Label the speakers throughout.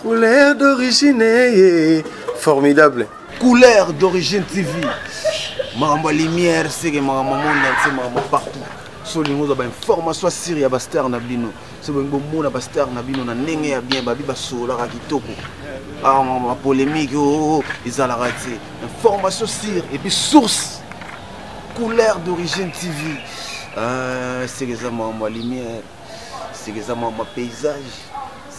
Speaker 1: couleur
Speaker 2: d'origine ye formidable couleur
Speaker 3: d'origine tv makambo ya lumière seke makambo monde entier makambo partout so olingi ozwa bainformation asire ya bastar na bino so bolingi bomona bastar na bino na ndenge ya bien babi basololaka kitoko bapolémique ah, oo oh, oh, oh, ezalaka te information sire epuis source couleur d'origine tv ah, seke eza makambo ya lumière seke eza mwa mwa paysage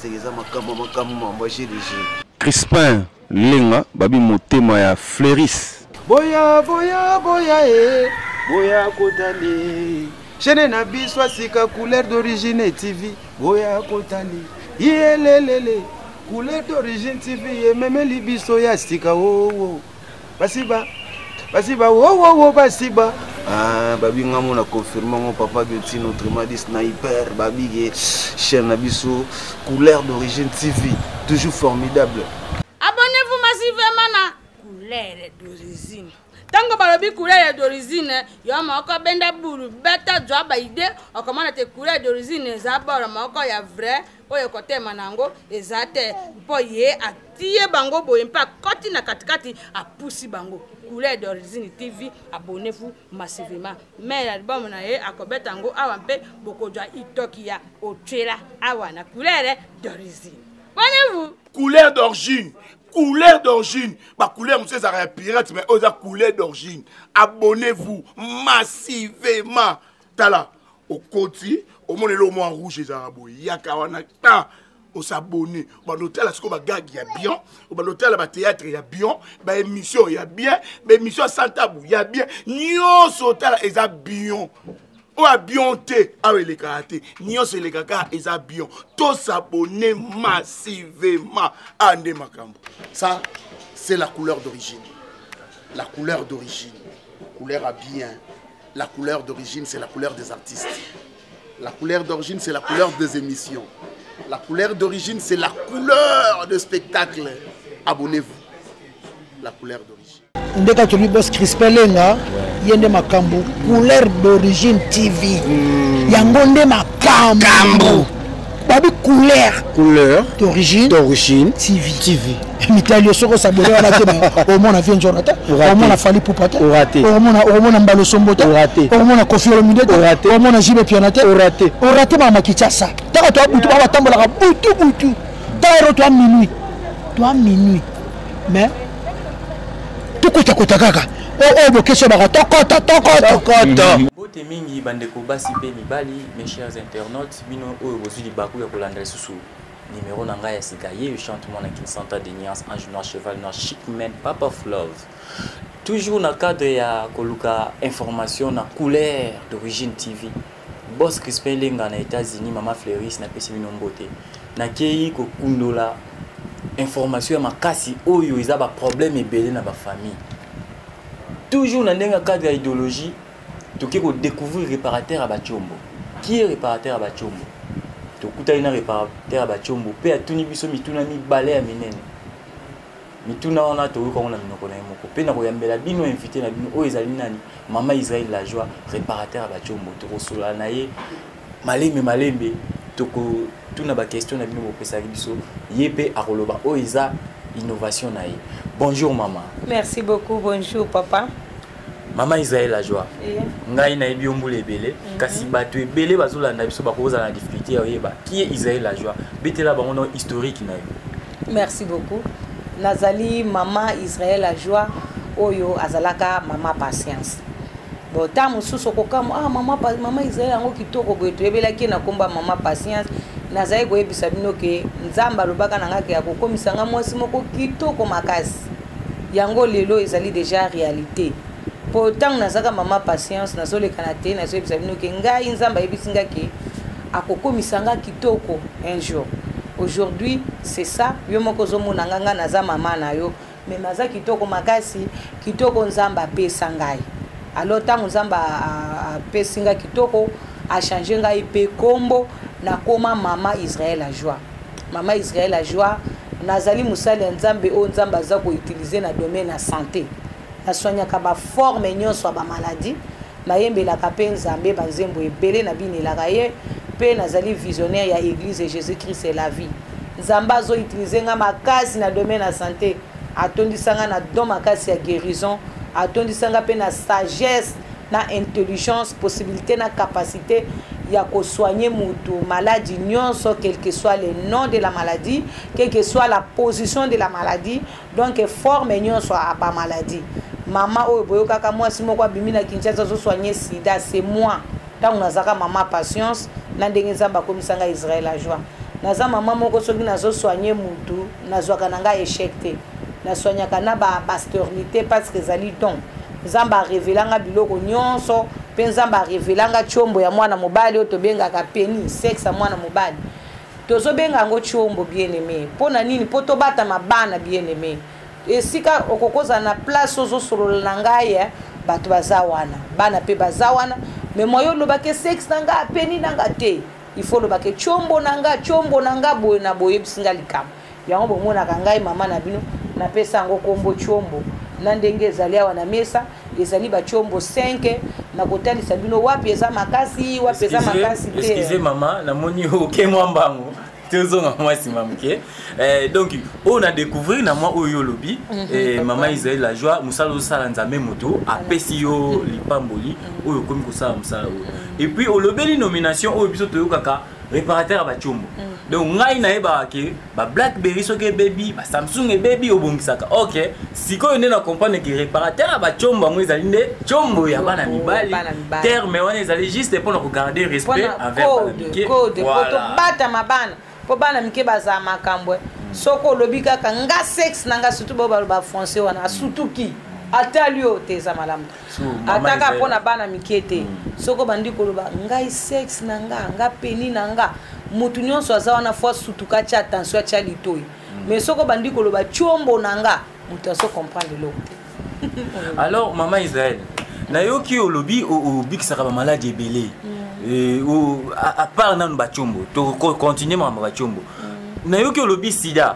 Speaker 3: seke eza makambo makambo mwa mwa jeu de jeu crispin
Speaker 4: lenga babi motema ya fleuris boya boya
Speaker 3: boya e boya kotali chaine na biso asika couleur d'origine tv boya kotali yelelele couleur d'origine tv ememeli biso ya sika oo oh, oh. basiba basiba wowowo basiba ah, babi nga mona confirme ngo papa biotine autrement dit sniper babige chaîne na biso couleur d'origine tv toujours formidable abonnez-vous
Speaker 5: massivement na couleur d'origine ntango balobi couleur d'origine yo moko benda bulu beta zwa baide okomona te couleur d'origine eza bolo moko ya vrai oyo ekotema na yango eza te mpo ye atie bango boye mpe akoti na katikati apusi bango couleur d'origine tv abonnez-vous massivement mai ya libomo na ye akobeta yango awa mpe bokozwa itoki ya otyela awa na couleur d'origine abonnez-vous couleur d'origine
Speaker 6: couleur d'origine bacouleur mosusu ezalaka ya pirate mai oyo eza couleur d'origine abonnez-vous massivement tala okoti omona eloko mwa rouge ezalaka boye yaka wana ta osabone obanda otala sikoyo bagage ya bien obanda otala bateatre ya bien baémission ya bien baémission ya santabu ya bien nyonso otala eza bien oyo abion te awa elekaka te nyonso elekaka eza bion tosabone massivement a nde makambo ça c'est la couleur d'origine la couleur d'origine couleur ya bien La couleur d'origine, c'est la couleur des artistes. La couleur d'origine, c'est la couleur des émissions. La couleur d'origine, c'est la couleur de spectacle. Abonnez-vous. La couleur d'origine. ndeka tolobi
Speaker 7: bos crispin lenga ye nde makambo couleur d'origine tv hmm. yango nde makambo babi couleur couleur d'origine d'origine tv tv mitali soki osabole wana te omona vie njona te omona fali pupa te omona omona mbalo sombo te omona kofi olomide te omona jibe piana te orate orate mama kichasa taka to butu ba tambolaka butu butu taka ro to minuit to minuit mais tokota kota kaka oyo oh, oh, bokesi obaka tokota tokota
Speaker 1: bote mingi bandeko basi mpe mibali mes chers internautes Bino oyo bozui libaku ya kolanda lisusu numéro na ngai ya sika ye chante mwana kin santa de niance ange noir cheval noir chic man papa of love toujours na cadre ya koluka information na couleur d'origine tv bos crispin lenga na états-unis mama fleuris napesi bino mbote nakei kokundola information ya makasi oyo eza baproblème ebele na bafamille toujours na ndenge ya cadre ya idéologie toke ko découvrir réparateur ya bachombo qui est réparateur ya bachombo tokutani na réparateur ya bachombo mpe atuni biso mituna mibale ya minene mituna wana toyoka yango na minoko na ye moko mpe na koyambela bino invité na bino oyo ezali nani mama israel la joie réparateur ya bachombo tokosolola na ye malembe malembe tokotuna baquestion na bino bopesaki biso ye mpe akoloba oyo oh, eza innovation na ye bonjour mama merci beaucoup
Speaker 8: bonjour papa mama
Speaker 1: israel ajoa yeah. ngai nayebi yo mbula ebele mm -hmm. kasi bato ebele bazolanda biso bakozala na difficulté ya oyeba kie israel ajoa betela bango na historique na yo merci beaucoup
Speaker 8: nazali mama israel ajoa oyo azalaka mama patience bon ntango mosusu okokamwa ah, mama, mama israel yango kitoko boye toyebelaki ye na nkomba mama patience nazali koyebisa bino ke nzambe alobaka na ngai ke akokomisa ngai mwasi moko kitoko makasi yango lelo ezali deja réalité mpo ntango nazalaka mama patience nazolekana te nazoyebisa bino ke ngai nzambe ayebisi ngai ke akokomisa ngai kitoko un jour aujourd'hui c'est ça yo moko ozomona ngai ngai naza mama na yo me naza kitoko makasi kitoko nzambe apesa ngai alors ntango nzambe apesi ngai kitoko achange ngai mpe nkombo nakoma mama israel ajoie mama israel ajoie nazali mosali ya nzambe oyo nzambe aza koutilize na domaine ya sante naswaniaka baforme nyonso ya bamaladi Nayembelaka mpe Nzambe banzembo ebele, nabinelaka ye, mpe nazali visionnaire ya Eglise Jesus Christ et la vie. Nzambe azo utiliser nga makasi na domaine ya sante, atondisa nga na don makasi ya guérison, atondisa nga mpe na sagesse, na intelligence, possibilité na capacité ya kosoigne moto maladi nyonso quelque soit le nom de la maladie quelque soit la position de la maladie donc forme nyonso ya ba maladie mama oyo boyokaka mwasi moko abimi na kinshasa azosoigne sida c'est moi ntango nazalaka mama patience na ndenge nzambe akomisa ngai israel ajoie naza mama moko soki nazosoigne mutu nazwaka na ngai échec te nasoignaka na basternité parce que ezali don nzambe arevelanga biloko nyonso mpe nzambe arevelanga tiombo ya mwana mobali oyo tobengaka peni sexe ya mwana mobali tozo benga yango chombo bien aime mpo na nini mpo tobatama bana bien aime esika okokozala na place ozosolola na ngai eh, bato baza wana bana mpe baza wana me moye olobaki sexe na ngai apeni na ngai te il faut olobaki chombo na ngai chombo na ngai boye na boyebisi ngai likambo yango bomonaka ngai mama na bino napesa yango nkombo chombo na ndenge ezali awa na mesa ezali bachombo 5 na kotalisa bino wapi eza makasi wapi eza makasi te excuse mama namoni
Speaker 1: oke mwa mbango tozonga mwa nsima moke eh, donc oyo na découvrir na mwa oyo olobi mhm, eh, mama israel la joie mosala ozosala nzambe moto apesi yo mhm. lipamboli mhm. oyo okomi kosala mosala oyo epuis olobeli nomination oyo biso toyokaka réparateur ya bacombo mm. donc ngai nayebaka ke bablackberry soki ebebi basamsung ebebi obongisaka ok sikoyo nde na comprendre ke réparateur ya bacombo yango ezali nde combo ya bana mibali terme wana ezali juste mpo na kogarde respect envers bana mike tobatama
Speaker 8: bana mpo bana mike bazala makambo eh. mm. soki olobi kaka nga sexe na nga surtout bao baloba français wana asutuki atali yo te eza malamu ataka mpo na bana mike te mm. soko bandi koloba ngai sexe na nga nga peni na nga motu nyonso aza wana fo asutuka atya attention atya litoi mm. mais soko bandi koloba tiombo na nga moto azo comprendre eloko te alors mama
Speaker 1: israel nayoki olobi obikisaka bamaladi ebele mm. apart nanu batiombo tokontinue makambo batiombo nayoki olobi sida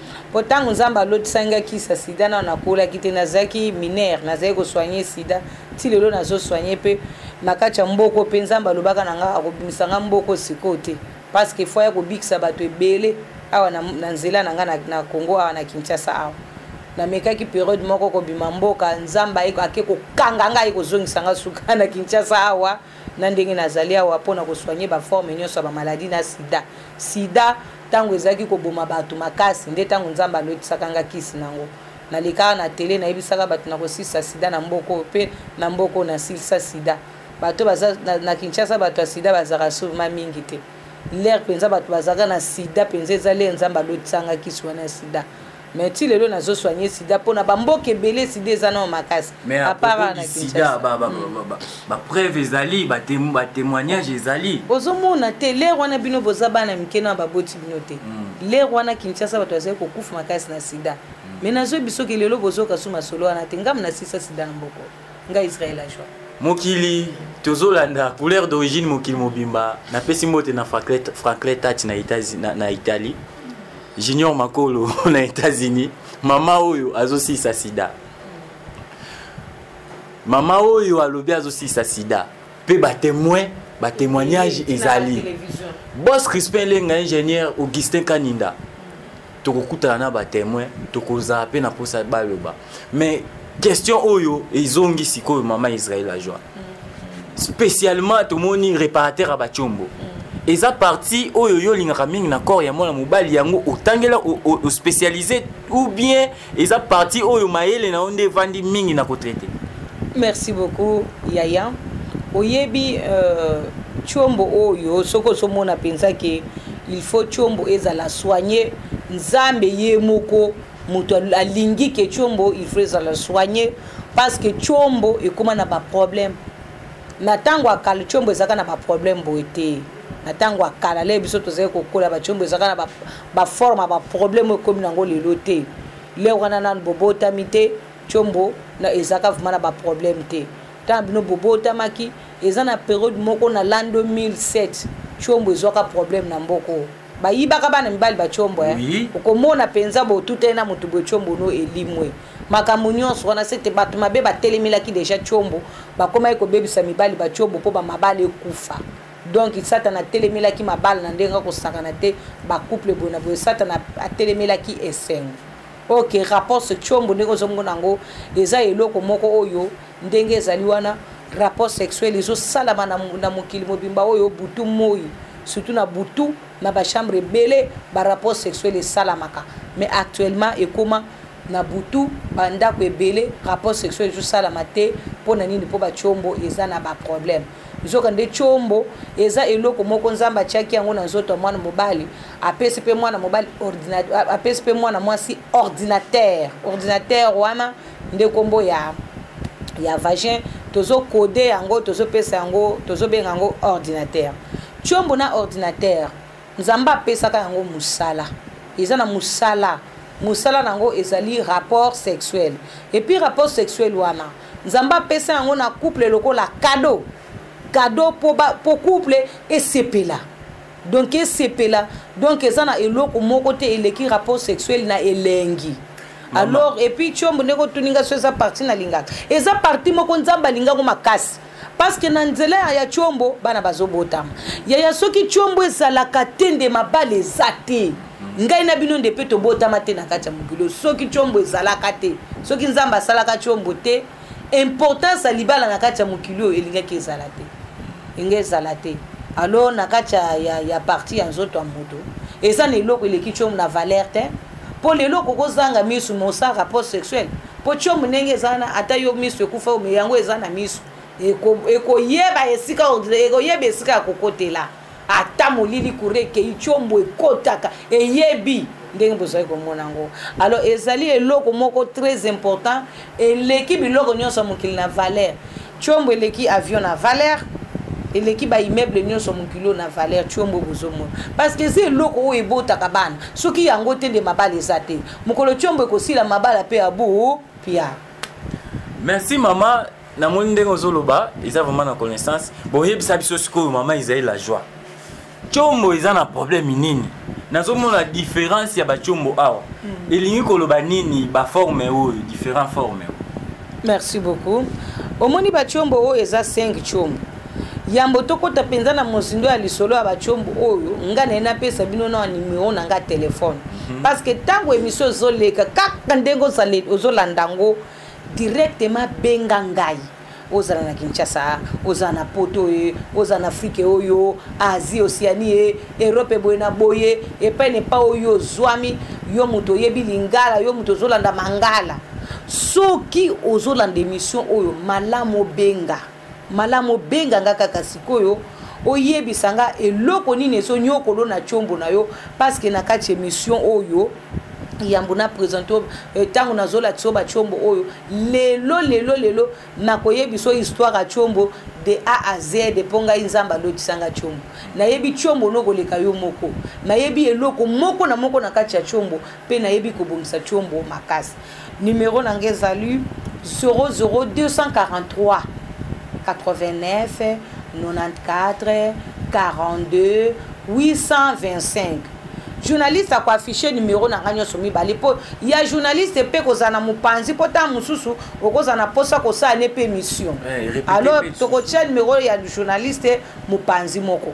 Speaker 8: mpo ntango nzambe alotisaki ngai kisa sida nano nakolaki te nazalaki minere nazalaki kosoigne sida ti lelo nazosoigne mpe na kati ya mboko mpe nzambe alobaka na ngai akobimisa ngai mboko sikoyo te parce que fo ya kobikisa bato ebele awa na, na nzela na ngai na, na congo awa na kinshasa awa namekaki periode moko kobima mboka nzambe ake kokanga ngai aye kozongisa ngai suka na kinshasa awa na ndenge nazali awa mpo na kosoigne baforme nyonso ya bamaladi na sida sida ntango ezalaki koboma bato makasi nde ntango nzambe alotisaka nga kisi na yango nalekaka na tele nayebisaka bato na kosilisa sida na mboka oyo mpe na mboka oyo nasilisa sida bato baza na, na kinshasa bato ya sida bazalaka souvema mingi te lere mpenza bato bazalaka na sida mpenza eza lere nzambe alotisanga kisi wana ya sida mais ti lelo nazo soigne sida mpo na bamboka ebele sida eza nao makasi apart na
Speaker 1: sida bapreuve ezali batémoignage ezali ozomona te
Speaker 8: lere wana bino boza bana mike na baboti bino te hmm. lere wana kinshasa bato bazali kokufa makasi na sida mais hmm. nazoyebi soki lelo bozoka su masolo wana te ngambo na sisa sida na mboko nga Israël la joie mokili
Speaker 1: tozolanda couleur d'origine mokili mobimba napesi mbote na franklin tati na, na, na italie junior makolo na états-unis mama oyo azosilisa sida mama oyo alobi azosilisa sida mpe batemoin batémoignage ezali bos crispin lenga ingénieur augustin kaninda tokokutana na batemoin tokozala mpe na mposa baloba mais question oyo ezongi sikoyo mama israel ajoi spécialement tomoni réparateur ya bacombo mm. eza parti oyo yo olingaka mingi na corps ya mwana mobali yango otangela ospécialise ou bien eza parti oyo mayele na yo nde evandi mingi na kotraite merci
Speaker 8: beaucoup yaya oyebi euh, combo oyo soki ozomona mpenza ke il faut tshombo ezala soigne nzambe ye moko moto alingi ke tshombo il faut ezala soigne parce que tshombo ekóma na baproblème na ntango ya kala tshombo ezalaka na baproblème boye te na ntango ya kala leye biso tozali kokola batshombo ezalaka na baforme ya baproblème oyo ekómi nango lelo te le wana nanu bobotami te tshombo ezalaka vraimen na baproblème te ntango bino bobotamaki eza na periode moko na l'an 2007 tshombo ezwaka problème na mboko oyo bayibaka bana mibali batshombo eh? oui. okomona mpenza botutani na moto boye tshombo no elimwe makambo nyonso wana sete bato mabe batelemelaki deja tshombo bakomaki kobebisa mibali batshombo mpo bamabala ekufa donc satana atelemelaki mabala na ndenge akosakana te bacouple boye na boye satana atelemelaki esengo ok rapos tshombo ndenge ozomona yango eza eloko moko oyo ndenge ezali wana rapport sexuel ezosalama na, na mokili mobimba oyo butu moi surtout na butu na bachambre ebele barapport sexuel esalamaka mais actuellement ekoma na butu bandako ebele rapport sexuel ezosalama te mpo na nini mpo batiombo eza na baproblème nzoka nde chombo eza eloko moko nzambe atiaki yango na nzoto ya mwana mobali apesi mpe mwana mobali apesi mpe mwana mwasi ordinatere ordinatere wana nde nkombo ya ya vagin tozokode yango tozopesa yango tozobenga yango ordinatere chombo na ordinatere nzambe apesaka yango mosala eza na mosala mosala na yango ezali rapport sexuel epuis rapport sexuel wana nzambe apesa yango na couple lokola kado kado mpo couple esepela donk esepela donk eza na eloko moko te eleki rapport sexuel na elengi alors epuis tiombo ndenge otuni ngai so eza parti nalingaka eza parti moko nzambe alingango makasi parce que na nzela ya ya tshombo bana bazobotama yaya soki tshombo ezalaka te nde mabala eza te ngai na bino nde mpe tobotama te na kati ya mokili soki tshombo ezalaka te soki nzambe asalaka tshombo te importance ya libala na kati ya mokili oyo elingaki ezala te elingi ezala te alors na kati ya, ya, ya parti ya nzoto ya moto eza na eloko eleki tshombo na valeur te mpo lelo okokozanga misu mosaka post sexuel po tiomu ndenge eza wana ata yo miso ekufa yo yango eza na miso ekoyeba esika ekoyeba esika ya kokotela ata molili kure ekei tiomu ekotaka eyebi ndenge bozali komona yango alors ezali eloko moko très important eleki biloko nyonso ya mokili na valeur Tshombo eleki avion na valeur eleki ba immeuble nyonso mokili oyo na valeur tshombo bozomona parce que eza eloko oyo ebotaka bana soki yango te nde mabala eza te mokolo tshombo ekosila mabala mpe abu pia
Speaker 1: merci mama namoni ndenge ozoloba eza vraiment na connaissance boyebisa biso sikoyo mama ezali la joie combo eza na problème nini nazomona différence ya bacombo awa hmm. elingi koloba nini baforme oyo différent forme merci
Speaker 8: beaucoup omoni bacombo oyo eza 5 combo yambo tokɔta mpenza na mozindo ya lisolo ya bacombo oyo ngai naye napesa bino na nimero na ngai telefone hmm. parce que ntango émission ezoleka kaka ndenge ozolanda yango directement benga ngai ozala na kinshasa ozala na poto ye ozala na afrike oyo asie osiani ye erope boye na boye epai na epai oyo ozwami yo moto oyebi lingala yo moto ozolanda mangala soki ozolanda emission oyo malamu obenga malamu obenga nga kaka sikoyo oyebisa nga eloko nini ezonyokolo na chombo na yo parceke na kati emission oyo yambo na presente oyo ntango euh, nazolakisa oyo bacombo oyo lelo lelo lelo nakoyebisa oyo histoire ya combo de a a z mpo ngai nzambe alotisanga combo nayebi combo nokoleka yo moko nayebi eloko moko na moko na kati ya combo mpe nayebi kobongisa combo makasi Numero na nga ezali 00243 89 94 42 825 journaliste akoaffiche numero na ngai nyonso mibale mpo ya journaliste mpe kozala na mopanzi mpo ntango mosusu okozala na mposa kosala ne mpe mission eh, alors tokotya numero ya journaliste mopanzi moko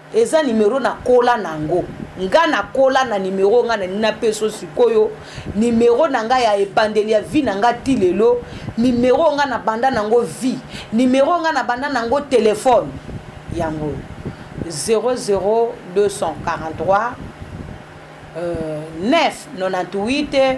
Speaker 8: eza numero nakola nango nga nakola na numero nga nalingi napeso sikoyo numero na nga ya ebandeli ya vie na nga ti lelo numero nga nabanda nango vie numero nga nabanda nango telefone yango 00243 euh, 9 98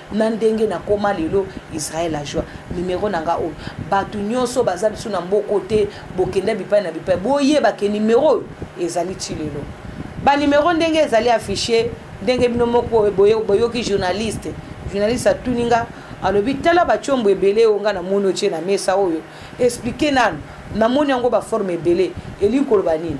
Speaker 8: na ndenge nakoma lelo israel ajua numero na nga oyo bato nyonso baza lisu na mboko te bokenda bipai na bipai boyeba ke numero oyo ezali ti lelo banumero ndenge ezali affiche ndenge bino moko boyoki journaliste journaliste atuni nga alobi tala bacombo ebele oyo nga namoni otie na mesa oyo explike nanu namoni yango baforme ebele elingi koloba nini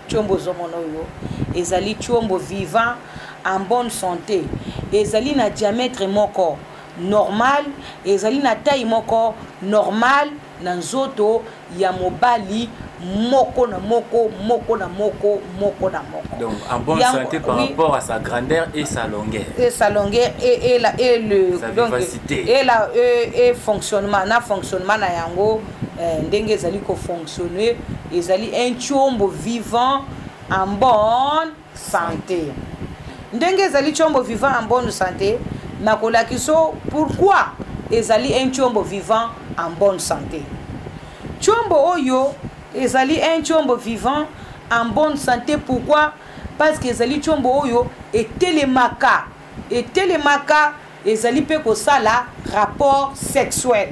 Speaker 8: Tshombo ozomona oyo ezali tshombo vivant en bonne santé ezali na diamètre moko normal ezali na taille moko normal na nzoto ya mobali moko na moko moko na moko moko na moko
Speaker 1: donc en bonne ya, santé par oui, rapport à sa grandeur et sa longueur et sa longueur et,
Speaker 8: et, la, et le sa donc, vivacité et, la, et, et fonctionnement na fonctionnement na yango eh, ndenge ezali kofonctionne ezali un combo vivant en bonne santé ndenge ezali combo vivant en bonne santé nakolakisa o pourquoi ezali un combo vivant en bonne santé combo oyo ezali un combo vivant en bonne santé pourquoi parce que ezali combo oyo etelemaka etelemaka ezali mpe kosala rapport sexuel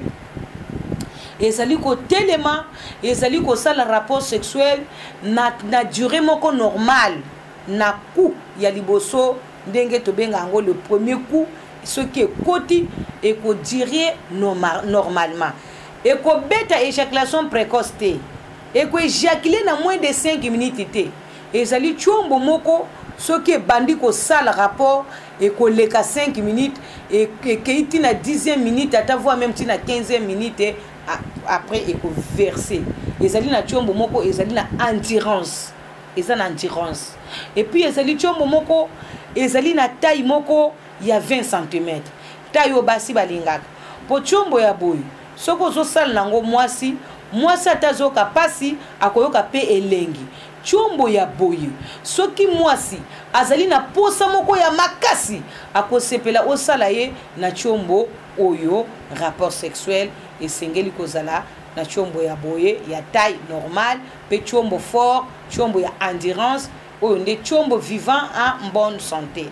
Speaker 8: ezali kotelema ezali kosala rapport sexuel na, na durée moko normale na coup ya liboso ndenge tobenga yango le premier coup soki ekoti ekodirie normalement ekobeta éjaculation précoce te ekoéjacule na moins de 5 minutes te ezali tshombo moko soki ebandi kosala rapport ekoleka 5 minutes ekei ntina 10e minute ata voi meme ntina 15e minute après ekoverse ezali na tshombo moko ezali na andirance eza na andirance epuis ezali tshombo moko ezali na taille moko ya 20 cm taille oyo basi balingaka mpo tshombo ya boye soki ozosala nango mwasi mwasi ata azoyoka mpasi akoyoka mpe elengi Tshombo ya boye soki muasi azali na posa moko ya makasi akosepela osala ye na tshombo oyo rapport sexuel esengeli kozala na tshombo ya boye ya taille normale pe tshombo fort tshombo ya endurance oyo nde tshombo vivant en bonne sante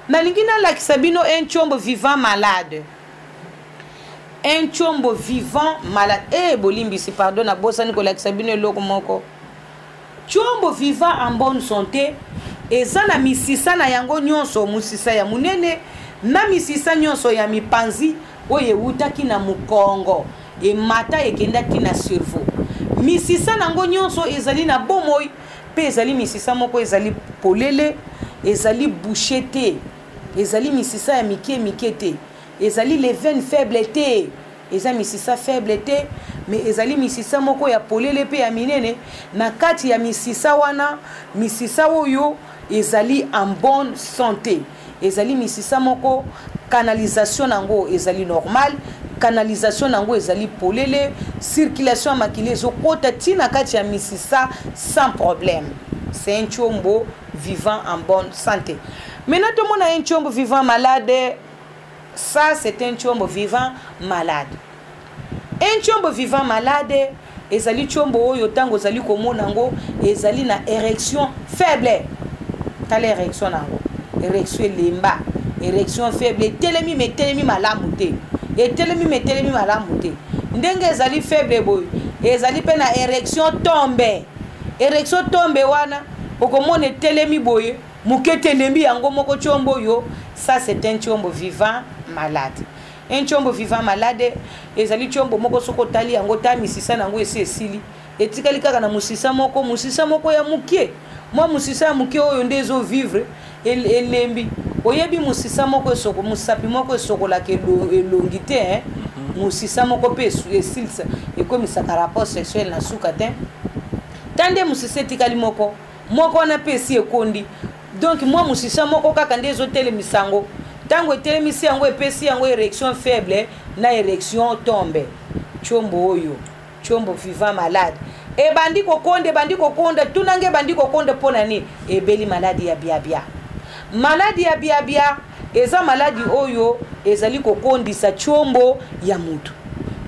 Speaker 8: nalingi nalakisa bino un tshombo vivant malade un chombo vivant malade e eh, bolimbisi pardon nabosani kolakisa bino eloko moko chombo vivant en bonne santé eza na misisa na yango nyonso mosisa ya monene na misisa nyonso ya mipanzi oyo ewutaki na mokongo emata ekendaki na cerveau misisa na yango nyonso ezali na bomoi mpe ezali misisa moko ezali polele ezali bouche te Ezali misisa ya mikie mikie te. Ezali les veines faibles te. Eza misisa faible te, mais ezali misisa moko ya polele pe ya minene. Na kati ya misisa wana, misisa oyo ezali en bonne santé. Ezali misisa moko canalisation nango ezali normal, canalisation nango ezali polele, circulation ya makila ezokota ti na kati ya misisa sans problème. C'est un chombo vivant en bonne santé maintenant tomona ye ntshombo vivant malade ça c'est un ntshombo vivant malade un ntshombo vivant malade ezali ntshombo oyo ntango ozali komona yango ezali na érection faible tala érection na yango érection elemba érection faible etelemi me etelemi malamu te etelemi me etelemi malamu te ndenge ezali faible boye ezali mpe na érection tombe erection tombe wana okomona etelemi boye moke telembi yango moko tiombo yo ça c'est un tiombo vivant malade un tiombo vivant malade ezali tiombo moko soki otali yango ta misisa na yango esi esili etikali kaka na mosisa moko mosisa moko ya moke mwa mosisa ya moke oyo nde ezovivre El, elembi oyebi mosisa moko esoko mosapi moko esokolaka elongi te eh? mhm. mosisa moko mpe esilisa ekomisaka rapport sexuel na suka te ta nde mosisa etikali moko moko wana mpe esi ekondi donk mwa mosisa moko kaka nde ezotelemisa yango ntango etelemisi yango epesi yango erection faible na erection tombe combo oyo Chombo vivant malade ebandi kokonda ebandi kokonda tuna nge ebandi kokonda mpo na nini ebeli maladi ya biabia maladi ya biabia eza maladi oyo ezali kokondisa chombo ya motu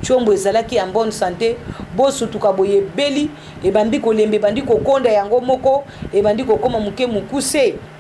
Speaker 8: chombo ezalaki ya bonne santé bosutuka boye ebeli ebandi kolemba ebandi kokonda yango moko ebandi kokoma moke mokuse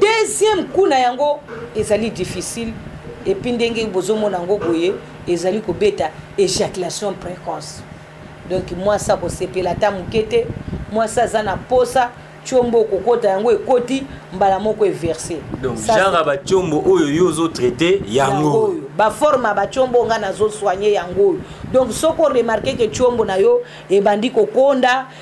Speaker 8: deuxième coup na yango ezali difficile epuis ndenge bozomona yango boye ezali kobeta éjaculation précoce donc mwasi akosepela ata moke te mwasi aza na posa tiombo okokota yango ekoti mbala moko everse donc genre ya
Speaker 1: batiombo oyo yo ozotraite yango oyo baforme ya
Speaker 8: batiombo ngai nazosoigne yango oyo donc soki oremarke ke tiombo na yo ebandi kokonda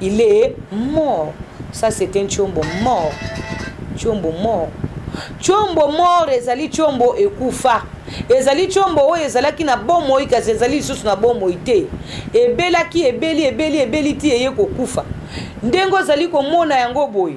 Speaker 8: il est mort ça c'est un tshombo mort tshombo mort tshombo mort ezali tshombo ekufa ezali tshombo oyo ezalaki na bomoi kasi ezali lisusu na bomoi te ebelaki ebeli ebeli ebeli ti eye kokufa ndenge ozali komona yango boye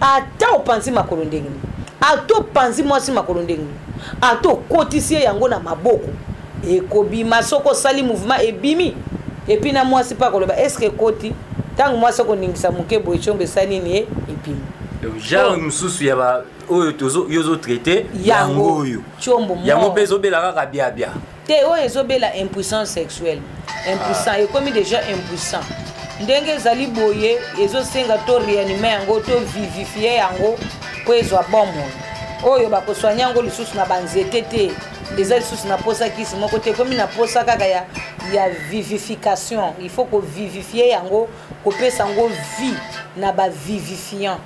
Speaker 8: ata opanzi makolo ndenge nini ata opanzi mwasi makolo ndenge nini ata okotisi ye yango na maboko ekobima soki osali mouvement ebimi epuis na mwasi mpe akoloba eske ekoti ntango mwasi akoningisa moke boye congo esa nini ye ebimi genre
Speaker 1: mosusu ya ba oyo yo ozotraite yango oyo yango mpe
Speaker 8: ezobela kaka
Speaker 1: biabia te oyo ezobela
Speaker 8: impuissant sexuel impuissant ah. ekomi déjà impuissant ndenge ezali boye ezosenga to réanime yango to vivifie yango mpo ezwa bomoi oyo bakoswani yango lisusu na banzete te eza lisusu na posa kisi moko te ekomi na posa kaka ya, ya vivification il faut kovivifie yango kopesa yango vie na bavivifiant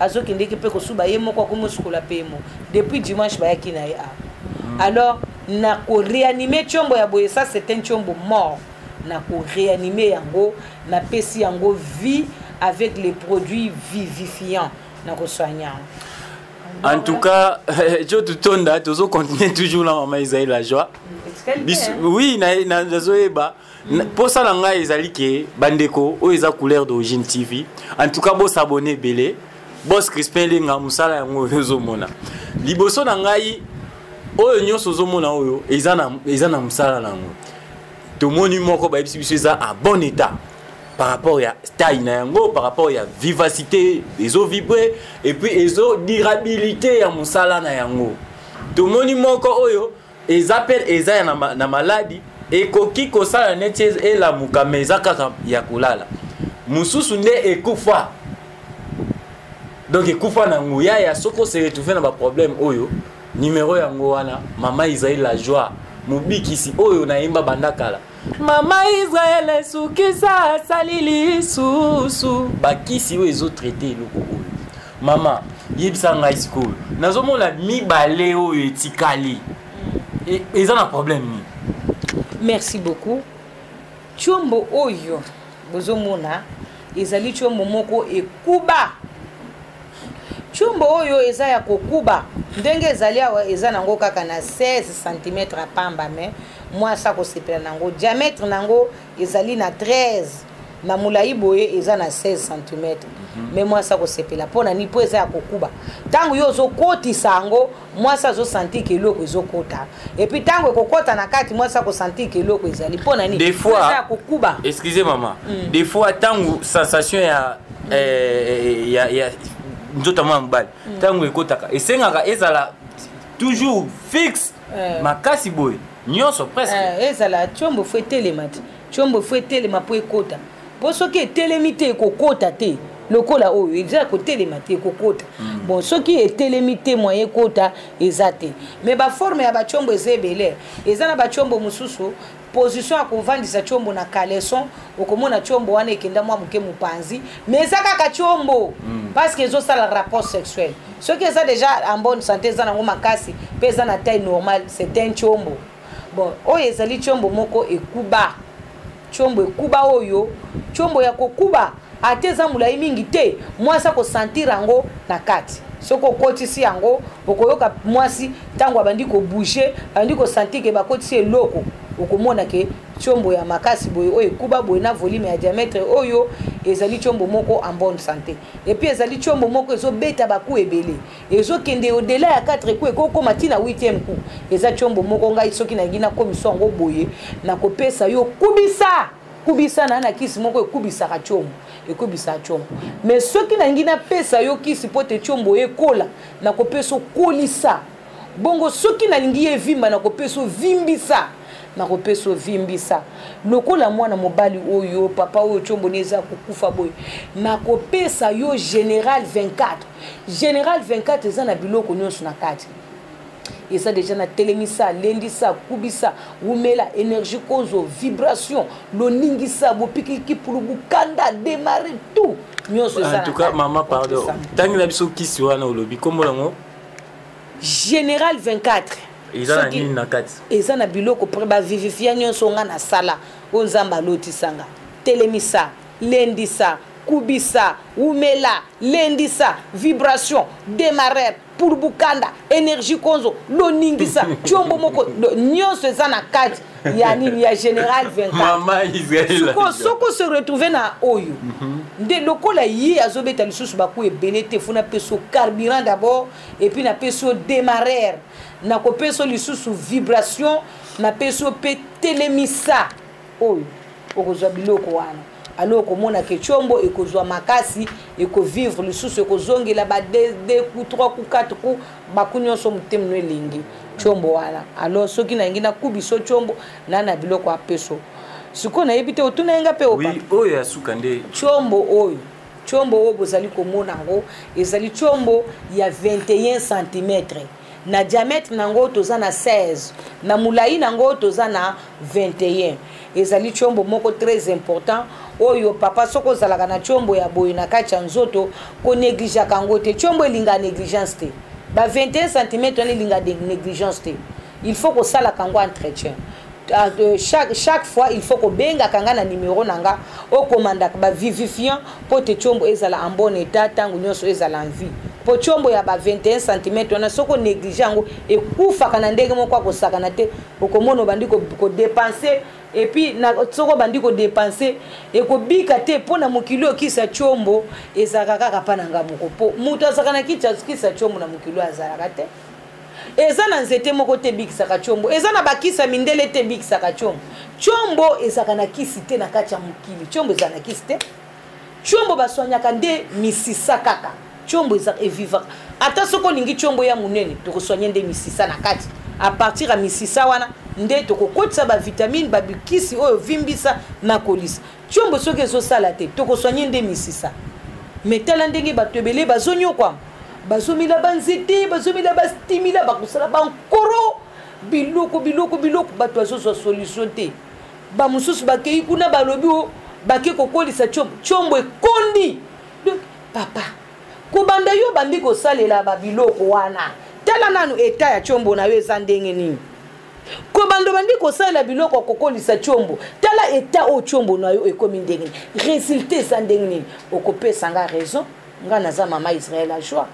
Speaker 8: azokendeki mpe kosuba ye moko akomi osukola pmo depuis dimanche bayaki na ye awa hmm. alors na koreanime tiombo ya boye ça c'est un tiombo mort na koreanime yango napesi yango vie avec les produits vivifiants na kosoigne yango en
Speaker 1: tout cas jo totonda tozo continuer toujours na mama isaïe la joie oui nazoyeba na, na mposa na ngai ezali ke bandeko oyo eza couleur d'origine tv en tout cas bosabone ebele bos crispin elenga mosala yango oyo ozomona liboso na ngai oyo nyonso ozomona oyo eza na, eza na mosala na yango tomoni moko bayebisi biso eza en bon état par rapport ya taille na yango par rapport ya vivacité ezo vibre et puis ezo durabilité ya mosala na yango tomoni moko oyo eza pe eza ya na, na maladi ekoki kosala neti elamuka me eza kaka ya kolala mosusu nde ekufa donc ekufa na nguya ya soki ose retrouve na baproblème oyo nimero yango wana mama ezali la joie mobikisi oyo nayemba banda kala mama israel esukisa asali lisusu bakisi oyo ezotraite eloko oyo mama yebisa ngai sikoyo nazomona mibale oyo etikali e, eza na problème nini merci
Speaker 8: beaucoup tiombo oyo bozomona ezali tiombo moko ekuba tiombo oyo eza ya kokuba ndenge ezali awa eza nango kaka na 16 cm ya pamba me mwasi akosepela na yango diamètre na yango ezali na 13 na molai boye eza na 16 cm mhm. me mwasi akosepela mpo na nini mpo eza ya kokuba ntango yo ozokotisa yango mwasi azosantike eloko ezokota epuis ntango ekokota na kati mwasi akosantike eloko ezali mpo na nini eza ya kokuba
Speaker 1: excuse
Speaker 8: mama mm.
Speaker 1: des fois ntango sensation ya, mm. eh, ya, ya nzoto mwa mobali mm. ntango ekotaka esengaka ezala toujours fixe eh. makasi boye nyonso presque eh, ezala tiombo
Speaker 8: fo etelema te tiombo fo etelema mpo ekota mpo soki etelemi te ekokota te lokola oyo eza kotelema te ekokota mm. bon soki etelemi te moyen ekota eza te mais baforme ya batiombo eza ebele eza na batiombo mosusu position ya kovandisa tshombo na caleson okomona tshombo wana ekenda mwa moke mopanzi mais eza kaka tshombo mm. parce que ezosala rapport sexuel soki eza déjà en bonne santé eza nango makasi mpe eza na taille normale c'est un tshombo bon oyo ezali tshombo moko ekuba tshombo ekuba oyo tshombo ya kokuba ata eza molai mingi te mwasi akosantire yango na kati soki okotisi yango okoyoka mwasi ntango abandi kobouge abandi kosantir ke bakotisi eloko okomona ke tiombo ya makasi boye oyo ekuba boye na volume ya diametre oyo ezali tiombo moko en bonne santé epuis ezali tiombo moko ezobeta baku ebele ezokende odela ya 4 ku ekokoma ntina 8e ku eza tiombo moko ngai soki nalingi nakomisa yango boye nakopesa yo kubisa kubisa na na kisi moko ekubisaka tshombo ekubisaka tshombo me soki nangi napesa yo kisi mpo te tshombo ekola nakopesa okolisa bongo soki nalingi ye evimba nakopesa ovimbisa nakopesa ovimbisa lokola mwana mobali oyo papa oyo tyomboni eza kokufa boye nakopesa yo général 24 général 24 eza na biloko nyonso na kati eza deja na telemisa lendisa kubisa wumela energie kozo vibration loningisa bopikiliki pulu bukanda demare tout nyonso eza en tout cas mama
Speaker 1: pardon tangi na biso kisi wana olobi kombo yango
Speaker 8: général 24 eza na nini
Speaker 1: na kati eza na biloko pre
Speaker 8: bavivifia nyonso nga nasala oyo nzambe alotisanga telemisa lendisa kubisa wumela lendisa vibration demarrer pulubukanda energie konzo loningisa tiombo moko nyonso eza na kati ya nini ya général 24
Speaker 1: soki ose retrouve
Speaker 8: na oyo mhm. nde lokola ye azobeta lisusu baku ebele te fo napesi yo carburant d'abord epuis napesi yo démarrere nakopesi yo lisusu vibration napesi yo mpe telemisa oyo okozwa biloko wana alo okomona ke tshombo ekozwa makasi ekovivre lisusu ekozongela ba de, de ku trois ku quatre ku baku nyonso motema no elengi tshombo wana alo soki nalingi nakubiso tshombo na na biloko apeso sikoyo nayebi te otuna ye nga mpe oyo ya suka nde
Speaker 1: tshombo oyo
Speaker 8: tshombo oyo bozali komona yango ezali tshombo ya 21 centimetre na diamètre na yango toza na 16 na molai na yango toza na 21 ezali tiombo moko très important oyo papa soki ozalaka na tiombo ya boye na kati ya nzoto konegligeaka yango te tiombo elinga négligence te ba 21 cm wana elinga négligence te il faut kosalaka yango entretien Ah, chaque, chaque fois il faut kobengaka nga na numero na nga okomandaka bavivifiant mpo te tiombo ezala en bon état ntango nyonso ezala en vie mpo tiombo ya ba 21 cm wana soki onéglige yango ekufaka na ndenge moko akosakana te okomona obandi kodepense epuis soki obandi kodepense ekobika te mpo na mokili oyo kisa tiombo ezalaka kaka mpa na nga moko mpo moto azalaka na kisa tiombo na mokili oyo azalaka te eza na nzete moko te ebikisaka combo eza na bakisi ya mindele te ebikisaka combo combo ezalaka na kisi te na kati ya mokili combo ezala na kisi te combo baswanyaka nde misisa kaka combo eza evivaka ata soki olingi combo ya monene tokoswanye nde misisa na kati apartir ya misisa wana nde tokokotisa bavitamine babikisi oyo vimbisa na kolisa Tshombo soki ezo sala te toko soigner nde misisa. Mais tala ndenge bato ebele bazo nyokwama. Bazo mila ba nzete, bazo mila ba stimila, bakosala ba nkoro, biloko biloko biloko bato bazo zwa solution te. Ba mosusu bakei kuna balobi o oh, bake kokolisa tshombo. Tshombo ekondi. Donc papa, kobanda yo bandi kosalela ba biloko wana. Tala nanu etat ya tshombo na yo eza ndenge nini. kobanda obandi kosalela biloko ya kokolisa tiombo tala eta oyo tiombo na yo ekomi ndenge nini resultat eza ndenge nini okopesa nga raison nga naza mama israel a joie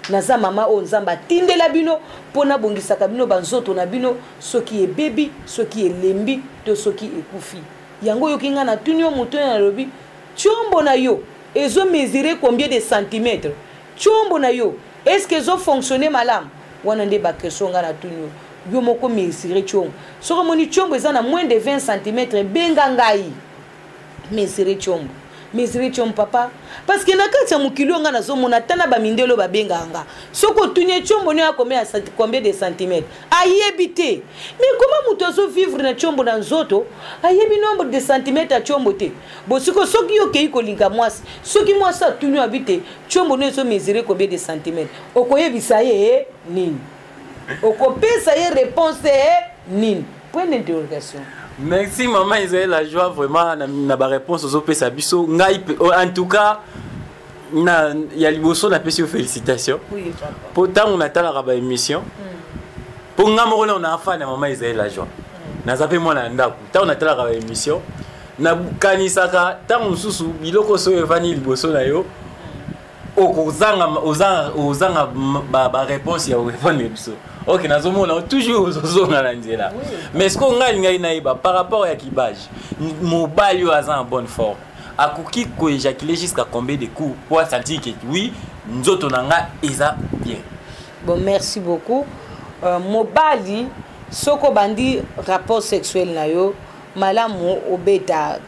Speaker 8: naza mama oyo nzambe atindela bino mpo nabongisaka bino banzoto na bino soki ebebi soki elembi to soki ekufi yango oyoki ngai natuni yo moto oyo nalobi tiombo na yo ezomesure combien de centimetre Tshombo na yo est ce que ezo fonctionner malamu? Wana nde ba question nga na tuni yo. Yo moko mesurez tshombo. Soki omoni tshombo eza na moins de 20 cm benga ngai. Mesurez tshombo. Mesurez tshombo papa. Parce que na kati ya mokili oyo nga nazo mona ata na ba mindele oyo ba benga nga. Soki otuni tshombo ne ya combien ya combien de cm? Ayebi te. Mais comment moto azo vivre na tshombo na nzoto? Ayebi nombre de cm ya tshombo te. Bosiko soki yo kei kolinga mwasi, soki mwasi atuni yo abi te Chombo no ezo mesurer combien de centimètres? Okoyebisa ye eh, nini? Okopesa ye réponse eh, nini? Point d'interrogation. Merci maman
Speaker 1: Israël la joie vraiment na, na ba réponse ozo pesa biso ngai oh, en tout cas na ya liboso na pesi yo félicitations. Oui papa. Po tango na talaka ba émission. Mm. Po nga moko na na fan ya maman Israël la joie. Mm. Naza pe mwana ndako. Tango na talaka ba émission nakanisaka ntango mosusu biloko soyo evandi liboso na yo okozanga ozanga ozanga ba ba réponse ya orépondre biso ok nazomona toujours ozozonga na nzela mais sikoyo ngai alingaki nayeba par rapport ya kibage mobali oyo aza en bonne forme akoki koéjaculer jusqu'à combien de coups po asentir ke oui nzoto na ngai eza bien bon merci
Speaker 8: beaucoup euh, mobali soki obandi rapport sexuel na yo malamu obeta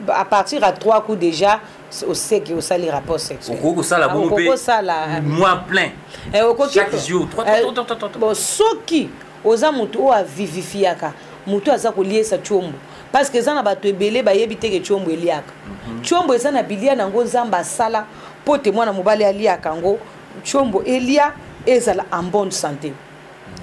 Speaker 8: à partir à trois coups déjà oseki osali rapport sexuelokoki kosala bongo mpe
Speaker 1: kosala mois plein eh, chaque jour eh, bon
Speaker 8: soki oza motu oyo avivifiaka motu aza koliesa tiombo parce que eza na bato ebele bayebi te ke tiombo eliaka tiombo mhm. eza na bilia na yango nzambe asala mpo te mwana mobali aliaka yango tiombo elia ezala en bonne santé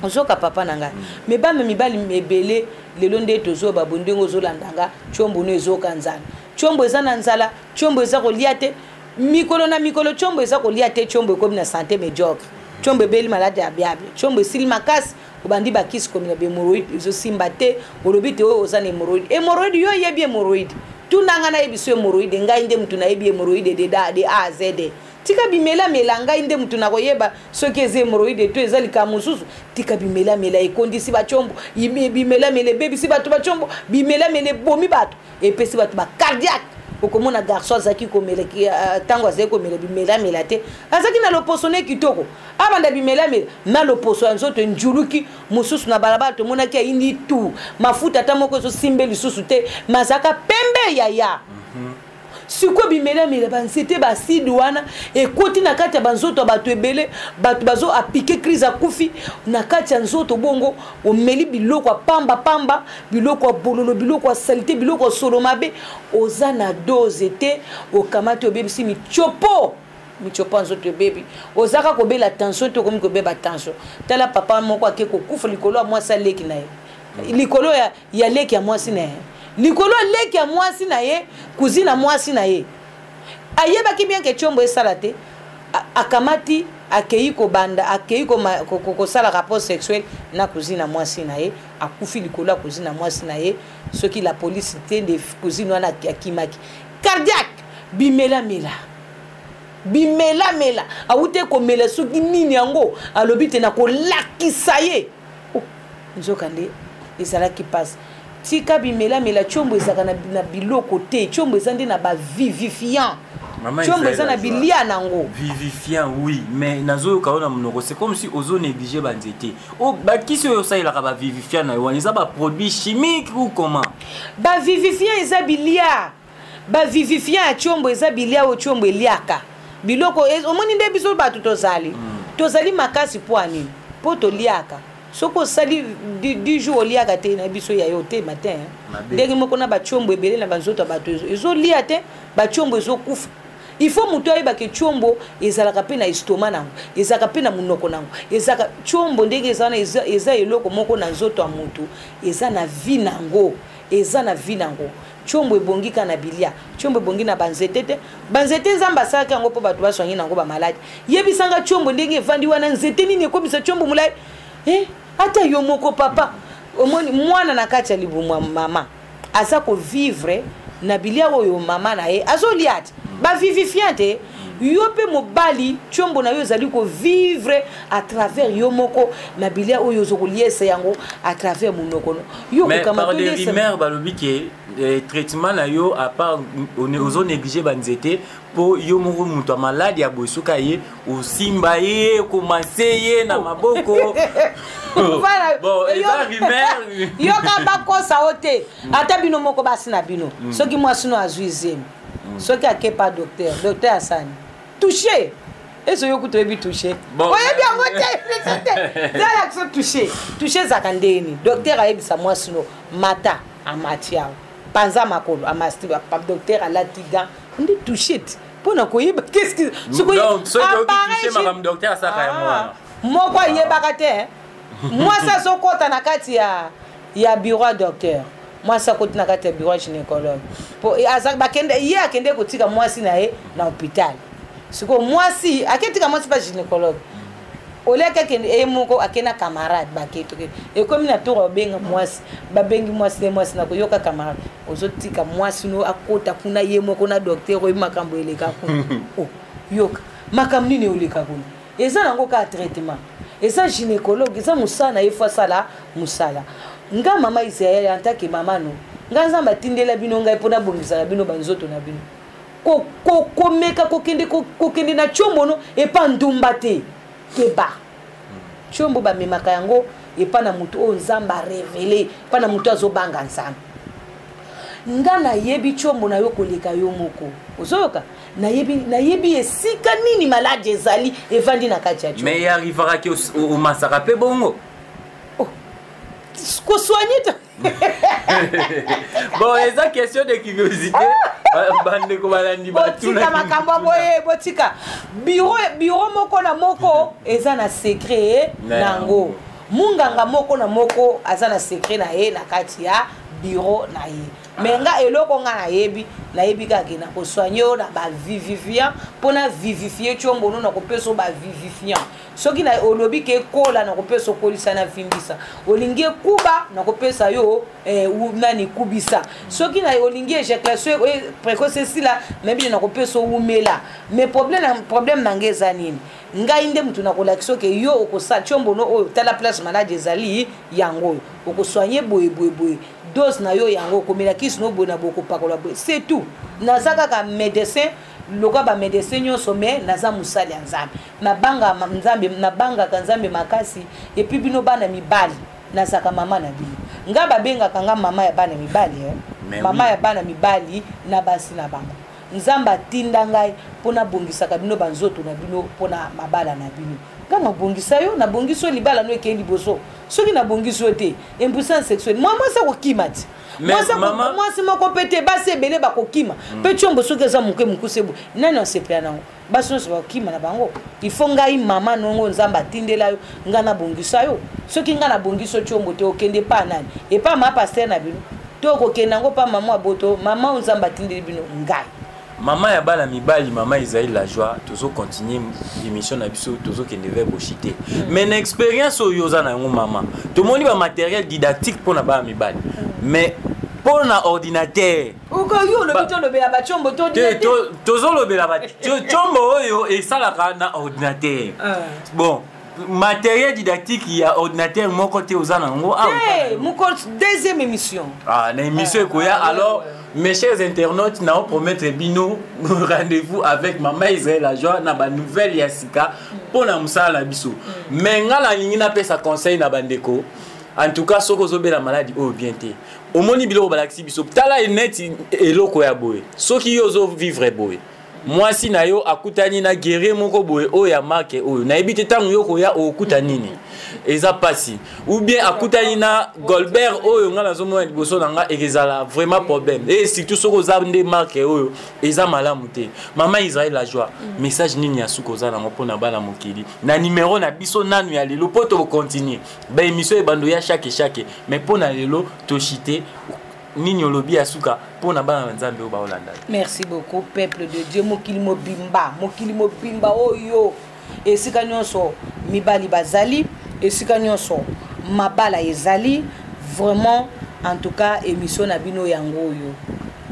Speaker 8: ozoka papa na ngai me bana mibali ebele lelo nde tozoba bo ndenge ozolanda nga combo no ezoka nzala combo eza na nzala combo eza kolia te mikolo na mikolo combo eza kolia te combo ekomi na sante mediocre combo ebeli maladi ya biable combo esili makasi obandi bakisi komi na bemoroide ezosimba te olobi te oyo oza na emoroide emoroide yo oyebi emoroide tunanga nayebi so emoroide ngai nde motu nayebi emoroide de da de a zede tika bimelamela ngai nde moto nakoyeba soki eza hemoroide to eza likaa mosusu tika bimelamela ekondisi bacombo bimelamela ebebisi bato bacombo bimelamela ebomi bato epesi bato bacardiaque okomona garçon azalaki komela ntango euh, azalaki komela bimelamela te azalaki na loposo ne kitoko abanda bimelamela na loposo ya nzoto enjuluki mosusu na balabala tomonaki ayindi tu mafuta ata moko ezosimbe lisusu te mazalaka pembe yaya mm -hmm. sikoyo bimelamela banzete baaside wana ekoti na kati ya banzoto ya bato ebele bato bazo apike crise akufi na kati ya nzoto bongo omeli biloko ya pamba pamba biloko ya bololo biloko ya salite biloko ya solo mabe oza na dose te okamati obebisi mitiopo mitiopo ya nzoto ebebi ozaka kobela tension te okomi kobeba tension tala papa moko ake kokufa likolo ya mwasi aleki na ye likolo ya ya leki ya mwasi na ye likolo ya leki ya mwasi na ye kuzini ya mwasi na ye ayebaki bien ke tiombo esala te akamati akei kobanda akei kosala rapport sexuel na kuzini ya mwasi na ye akufi likolo ya kuzini ya mwasi na ye soki la polise te nde kuzini wana akimaki cardiaque bimelamela bimelamela awute komela soki nini yango alobi te nakolakisa ye oh, nzoka nde ezalaki mpasi tika bimelamela tshombo ezalaka na, na biloko te tshombo eza nde na bavivifiant tshombo eza na bilia na yango vivifiant oui
Speaker 1: mais nazoyoka yo na monoko c'est comme si ozo néglige banzete oh, bakisi oyo osalelaka bavivifiant na yo wana eza baproduit chimique ou comment bavivifiant
Speaker 8: eza bilia ba vivifiant ya tshombo eza bilia oyo tshombo eliaka biloko e, omoni nde biso bato tozali mm. tozali makasi mpo ya nini mpo toliaka soki osali du jour oliaka te na biso ya yo te matin ndenge moko na batiombo ebele na banzoto ya bato ezolia te batiombo ezokufa il faut moto ayebake tiombo ezalaka mpe na estoma nango ezalaka mpe na monoko nango ezalaka tiombo ndenge eza wana eza, eza eloko moko na nzoto ya moto eza na vi nango eza na vi nango Tshombo ebongi kaka na bilia. Tshombo ebongi na banzete te. Banzete nzambe asalaki yango mpo bato baswangi na yango bamaladi. Yebisa nga tshombo ndenge evandi wana nzete nini ekomisa tshombo molai? Eh, ata yo moko papa omoni mwana na kati ya libumu ya mama aza kovivre na bilia oyo mama na ye azolia te bavivifiante yo mpe mobali tiombo na yo ezali kovivre à travers yo moko na bilia oyo ozo koliesa yango à travers monoko no yo kokama des rumeurs
Speaker 1: balobi ke eh, traitement na yo à part ozo néglige banzete mpo yo moko moto ya maladi ya boye soki aye osimba ye okomase ye na maboko yoka bakosa
Speaker 8: o te ata bino moko basi na bino mm. soki mwasi no azwi zemi mm. soki ake pa docteur docteur asani touche ezo yo kutu oyebi touche oyebi yango te zala kiso touche touche ezalaka ndeni docteur ayebisa mwasi no mata amati yango panza makolo amasti docteur alati gan ndi touche te mpo na koyeba keski
Speaker 1: moko ayebaka
Speaker 8: te mwasi azokɔta na kati ya ya bureau ya docteur mwasi akoti na kati ya bureau ya gynécologue po eh, aza bakende ye akende kotika mwasi na ye na hôpital sikoyo mwasi aketika mwasi mpa gynécologue oliaki akende ye moko ake na camarade baketoke ekomi na tour obenga mwasi babengi mwasi te mwasi na koyoka camarade ozotika mwasi no akota kuna ye moko na docteur oyebi makambo eleka kuna oh, yoka makambo nini oleka kuna eza nango kaka traitement eza gynécologue eza mosala na ye fo asala mosala nga mama israel antake mama no nga nzambe atindela bino ngai mpo nabongisaka bino banzoto na bino komeka kokende kokende na tiombo no epa ndumba te keba tiombo bamemaka yango epa na moto oyo nzambe arevele epa na moto azobanga nzambe nga nayebi tiombo na yo koleka yo moko ozoyoka nayebi nayebi esika nini maladi ezali evandi na kati ya jo mais arrivaka ke
Speaker 1: omasaka mpe bongo oh,
Speaker 8: kosoigne te
Speaker 1: bon eza question de curiosité ah! bandeko balandi botika makambo ya
Speaker 8: boye botika biro biro moko na moko eza na secret na yango munganga moko na moko aza na secret na ye na kati ya biro na ye mais nga eloko nga nayebi nayebi kaka ke na kosoigne yo na bavivifiant mpo na vivifie tiombonu na kopesa bavivifiant soki na olobi ke ekola na kopesa okolisa na vimbisa olingi ekuba na kopesa yo eh, nani kubisa soki na olingi ejaculation eh, précoce esila nayebi nde na kopesa owumela mais problème, problème na ngai eza nini ngai nde motu nakolakisa oke yo okosala tiombono oyo tala place maladi ezali yango oyo okosoigne boye boye boye dose na yo yango okomela kisi no boye na boye kopakola boye c'est tout naza kaka médecin lokola bamédecin nyonso mai naza mosali ya nzambe nabanga nzambe nabangaka nzambe makasi epuis bino bana mibali nazalaka mama na bino ngai babengaka ngai mama ya bana mibali eh? mama oui. ya bana mibali na basi na bango nzambe atinda ngai mpo nabongisaka bino banzoto na bino mpo na mabala na bino nga nabongisa yo nabongisi yo libala no ekei liboso soki nabongisi yo te impuissance sexuelle mwa mwasi akokima ti mwasi moko mpe te basi ebele bakokima mpe mm. tiombo soki eza moke mokuse boye nani asepela nango basi nyonso bakokima na bango il faut ngai mama nongo nzambe atindela yo ngai nabongisa yo soki ngai nabongisi yo tiombo te okende epa nani epa ma paster na bino to okokende yango mpa mama aboto mama oyo nzambe atindeli bino ngai mama ya bana
Speaker 1: mibali mama ezali la joie tozo continue émission na biso tozokende vers boshi te mm. mais na expérience oyo oza na yango mama tomoni ba matériel didactique mpo na bana mibali mais mpo na ordinateur okoki olobi tolobela bacombo tozolobela bacombo oyo esalaka na ordinateur ah. bon matériel didactique ya ordinateur moko te oza na yango ah, moko
Speaker 8: deuxième émission ah, na émission ah,
Speaker 1: ekoya ah, alors ouais, ouais. Mes chers internautes, nous promettre bino rendez-vous avec Maman Israël Ajoa na ba nouvelle ya sika pour na musala na biso. Mm. Mais nga na lingi na pesa conseil na bandeko. En tout cas, soko zobela maladie au bien te. omoni biloko balakisi biso tala neti eloko ya boye soki yo ozo vivre boye mwasi na yo akutani na guerrier moko boye oyo ya marke oyo nayebi te ntango yo koya okuta nini eza mpasi ou bien akutani na golbert oyo ngai nazomona liboso na ngai ekezala vraiment problème e surtout soki oza nde marke oyo eza malamu te mama israel la joie mm. message nini ya suka oza nango mpo na bana mokili na numero na biso nanu ya lelo mpo tokocontinue ba emission ebando ya chaque chaque mais mpo na lelo toshite nini olobi ya suka mpo na bana na nzambe oyo baolanda merci beaucoup
Speaker 8: peuple de dieu mokili mobimba mokili mobimba oyo esika nyonso mibali bazali esika nyonso mabala ezali vraiment en tout cas émission na bino yango oyo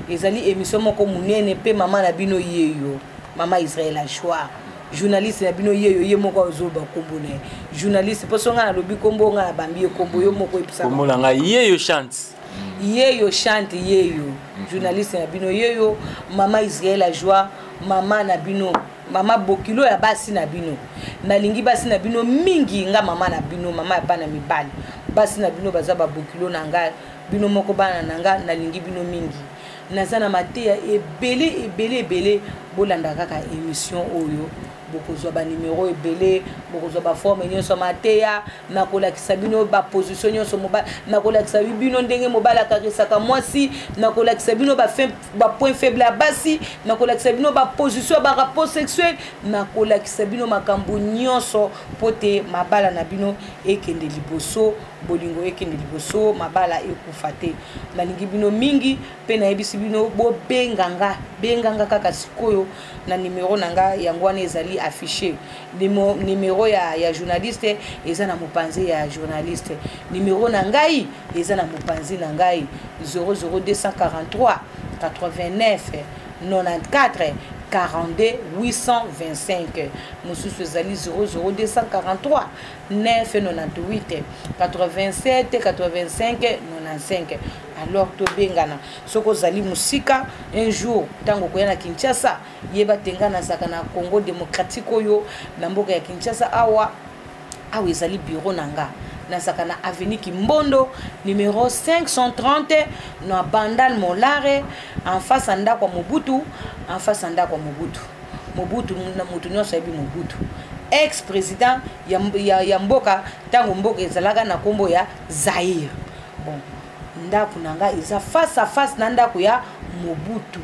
Speaker 8: ezali émission moko monene mpe mama na bino yeyo mama israel achoir journaliste na bino yeyo ye moko azoloba nkombo na ye journaliste mposo ngai nalobi nkombo ngai nabambi ye nkombo yo moko ebisakombo na ngai yeyo
Speaker 1: chante yeyo
Speaker 8: chante yeyo mhm. journaliste na bino yeyo mama israel ajoie mama na bino mama bokilo ya basi na bino nalingi basi na bino mingi nga mama na bino mama ya bana mibali basi na bino baza babokilo na ngai bino moko bana na ngai nalingi bino mingi naza na mateya ebele ebele ebele bolanda kaka émission oyo bokozwa banimero ebele bokozwa baforme nyonso ya mateya nakolakisa bino baposition nyonso mobali nakolakisa bino ndenge mobali akarisaka mwasi nakolakisa bino bapoint faible ya basi nakolakisa bino baposition ya barapport sexuel nakolakisa bino makambo nyonso mpo te mabala na bino ekende liboso bolingo ekende liboso mabala ekufa te nalingi bino mingi mpe nayebisi bino bobenga nga benga nga kaka sikoyo na nimero na nga yango wana ezali affiche nimero ya, ya journaliste eza na mopanzi ya journaliste nimero na ngai eza na mopanzi na ngai 00243 89 94 42 825 mosusu ezali 00243 998 87 85 95 alors tobengana soki ozali mosika un jour ntango okoya na kinshasa yeba te ngai nazalaka na congo démocratique oyo na mboka ya kinshasa awa awa ezali bureau na nga nazalaka na avenue kimbondo numero 530 na bandal molare en face ya ndako ya mobutu en face ya ndako ya mobutu mobutu na moto nyonso ayebi mobutu ex président ya, ya, ya mboka ntango mboka ezalaka na nkombo ya zaire bon ndako na ngai eza face à face na ndako ya mobutu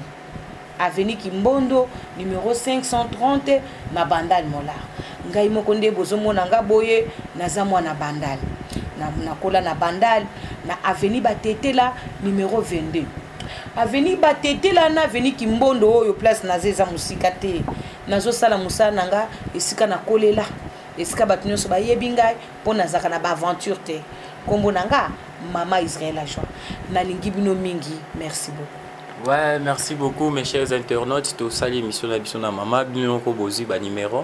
Speaker 8: avenue kimbondo numero 530 na bandal molar ngai moko nde bozomona nga boye naza mwana bandal nakola na bandal na avenue batetela numero 22 avenue batetela na avenue kimbondo oyo place naza eza mosika te nazosala mosala na nga esika nakolela esika bato nyonso bayebi ngai mpo nazalaka na baaventure te nkombo na nga mama israel ajoa nalingi bino mingi merci beaucoup Ouais, merci beaucoup
Speaker 1: mes chers internautes. Tout ça, l'émission de la Mama, bien qu'on bozi, bah, numéro.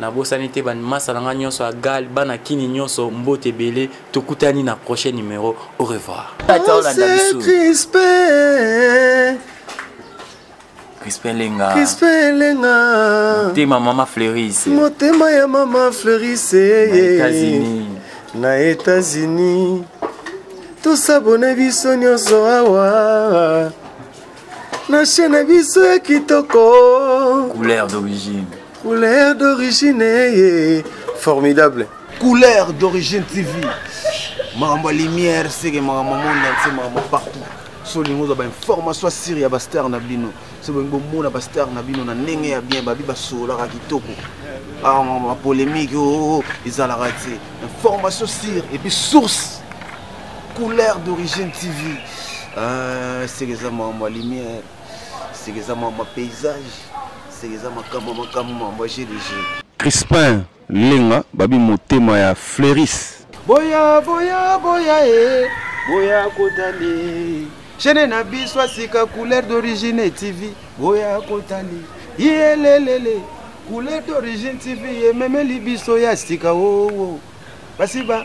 Speaker 1: Nabosani te bandimasa na nga nyonso ya gal bana kini nyonso mbote ebele tokutani na prochain numero au revoir Crispin Lenga Crispin Lenga Motema mama Fleuris Motema ya mama
Speaker 2: Fleuris États-Unis Na États-Unis Tosabone biso nyonso awa Na chaîne biso ya kitoko Couleur d'origine
Speaker 1: couleur d'origine ye
Speaker 2: formidable couleur
Speaker 3: d'origine tv makambo ya lumière seke makambo monde entier makambo partout so olingi ozwa bainformation asire ya bastar na bino so bolingi bomona bastar na bino na ndenge ya bien babi basololaka kitoko bapolémique ah, oo oh, oh, ezalaka te information sire epuis source couleur d'origine tv ah, seke eza makambo ya lumière seke eza mwa ma paysage seke eza makambo makambo mambo jeu de jeu crispin
Speaker 4: lenga babi motema ya fleuris boya boya
Speaker 3: boya e boya kotali chaine na biso asika couleur d'origine tv boya kotali yelelele couleur d'origine tv ememeli biso ya sika oo oh, oh. basiba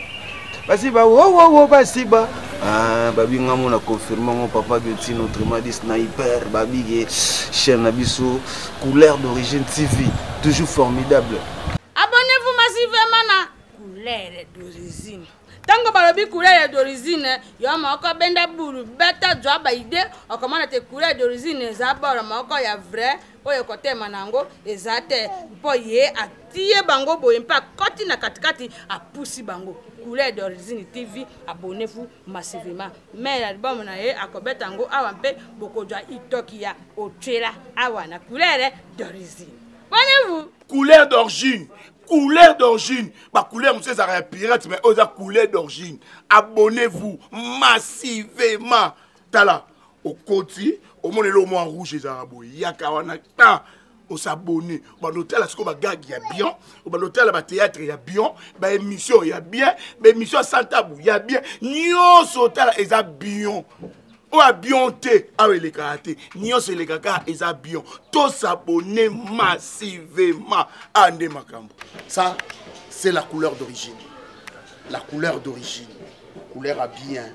Speaker 3: basiba wowowo basiba ah, babi nga mona confirme ngo papa guetino autrement dit sniper babige chaîne na biso couleur d'origine tv toujours formidable abonnez-vous
Speaker 5: massivement na couleur d'origine ntango balobi couleur d'origine yo moko benda bulu beta zwa baide okomona te couleur d'origine eza bolo moko ya vrai oyo ekotema na yango eza te mpo ye atie bango boye mpe akoti na katikati apusi bango couleur d'origine tv abonnez-vous massivement mais album na ye akobeta yango awa mpe bokozwa itoki ya otyela awa na couleur d'origine abonnez-vous couleur d'origine
Speaker 6: couleur d'origine bacouleur mosusu ezalaka ya pirate mais oyo eza couleur d'origine abonnez-vous massivement tala okoti omona eloko mwa rouge ezalaka boye yaka wana ta osabone obanda otala sikoyo bagage ya bien obanda otala bateatre ya bien baémission ya bien baémission ya santabu ya bien nyonso otala eza bien oyo abion te awa elekaka te nyonso elekaka eza bion tosabone massivement a nde makambo ça
Speaker 2: c'est la couleur d'origine la couleur d'origine couleur ya bien